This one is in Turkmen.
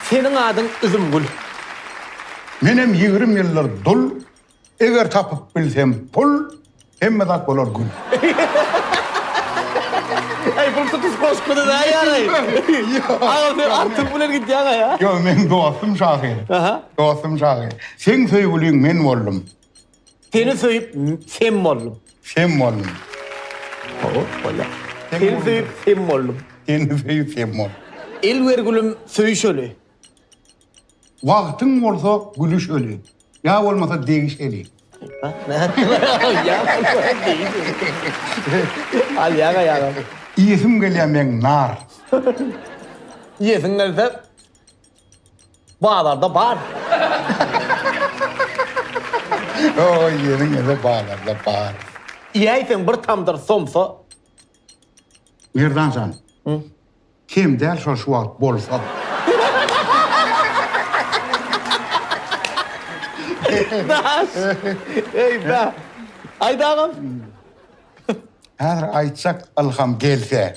Seniň adyň Üzümgül. Menem ýigrim ýyldyr dul, Eger tapyp bilsem pul, Hemme zat bolar gül. Eý, bul tutuş goşguda-da ýaly. Agam, sen artyň bilen gidýäň-aýa. Ýok, meň dostum şahyr. Aha. Dostum şahyr. Seň söýgüliň men boldum. Seni söýüp sem boldum. Sem boldum. Seni söýüp sem boldum. Seni söýüp sem boldum. El ber gülüm söýüşeli. Wagtyň bolsa gülüşeli. Ýa bolmasa degiş eli. Al ýaňa ýaňa. Iýesim gelýär meň nar. Iýesiň gelse Bazarda bar. Oý ýeriň ýeri bazarda bar. Iýäýseň bir tamdyr somsa. Merdan jan. Hum. Kem däl şol şu wagt bolsa. Daş. Eý da. Aýt agam. Häzir aýtjak ylham gelse.